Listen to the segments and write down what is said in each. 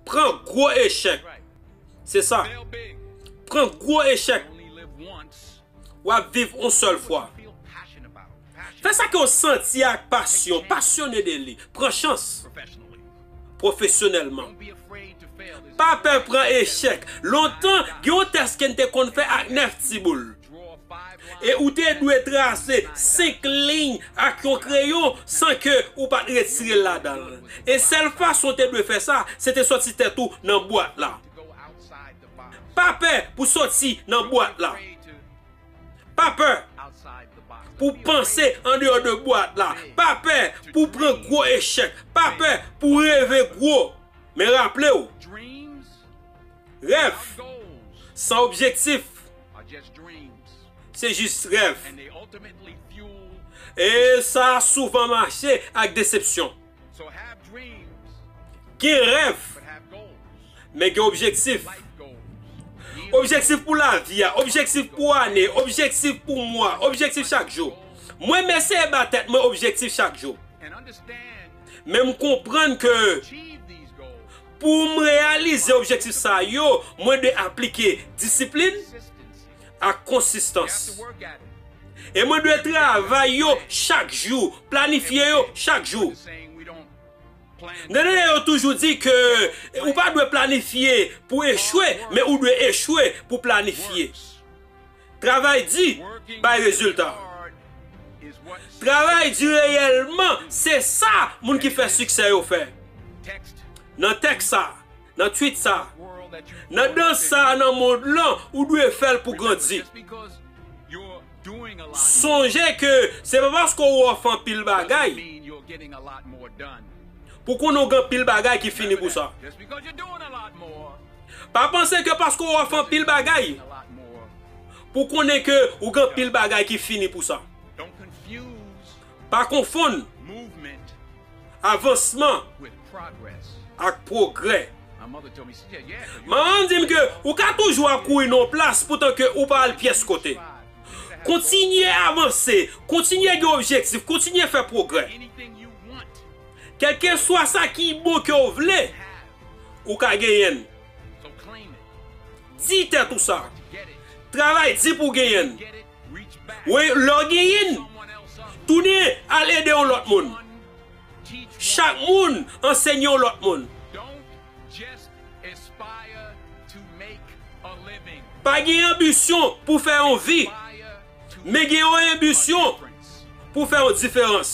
Pran gwo echèk. Se sa. Pran gwo echèk. W ap viv yon sèl fwa. Fè sa ke w santi ak pasyon. Pasyone de li. Pran chans. pwofesyonèlman. Pa pè pran echèk. Lontan, gen yon tès ke n te konn fè ak nèf ti boul. E ou te dwe trase senk liy ak yon kreyon san ke ou pa t retire l ladan l. E sèl fason ou te dwe fè sa, se te sòti tèt ou nan bwat la. Pa pè pou sòti nan bwat la. Pa pè pou panse an deyò de bwat la. Pa pè pou pran gwo echèk. Pa pè pou reve gwo. Men raple w, rèv san objektif se jis rèv. E sa souvan mache ak desepsyon. Gen rèv, men gen objektif. Objektif pou lavi a, objektif pou ane, objektif pou mwa, objektif chak jou. Mwen m eseye ba tèt mwen objektif chak jou. Men m konprann ke pou m reyalize objektif sa yo, mwen dwe aplike disiplin, ak konsistans. E mwen dwe travay yo chak jou, planifye yo chak jou. Nenene yo toujou di ke ou pa dwe planifye pou echwe, men ou dwe echwe pou planifye. Travay di bay rezilta. Travay di reyèlman se sa moun ki fè siksè yo fè. Nan tèks sa. Nan tweet sa. Nan dans sa nan mond lan ou dwe fèl pou grandi. Sonje ke se pa paske ou off anpil bagay pou konnen ou gen anpil bagay ki fini pou sa. Pa panse ke paske ou off anpil bagay pou konnen ke ou gen anpil bagay ki fini pou sa. Pa konfonn avansman ak pwogrè. Manman m di m ke ou ka toujou ap kouri nan yon plas poutan ke ou pa al pyès kote. Kontinye avanse, kontinye gen objektif, kontinye fè pwogrè. Kèlkeswa sa ki bon ke w vle, ou ka genyen l. Di tèt ou sa. Travay di pou w genyen l. Wi, lè w gen yn, tounen al ede yon lòt moun. Chak moun ansenye yon lòt moun. Pa gen anbisyon pou fè yon vi, men gen yon enbisyon pou fè yon diferans.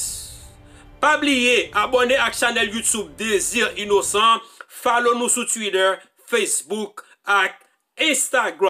Pa bliye abòne ak chanèl YouTube Désir Innocent, follow nou sou Twitter, Facebook ak Instagram.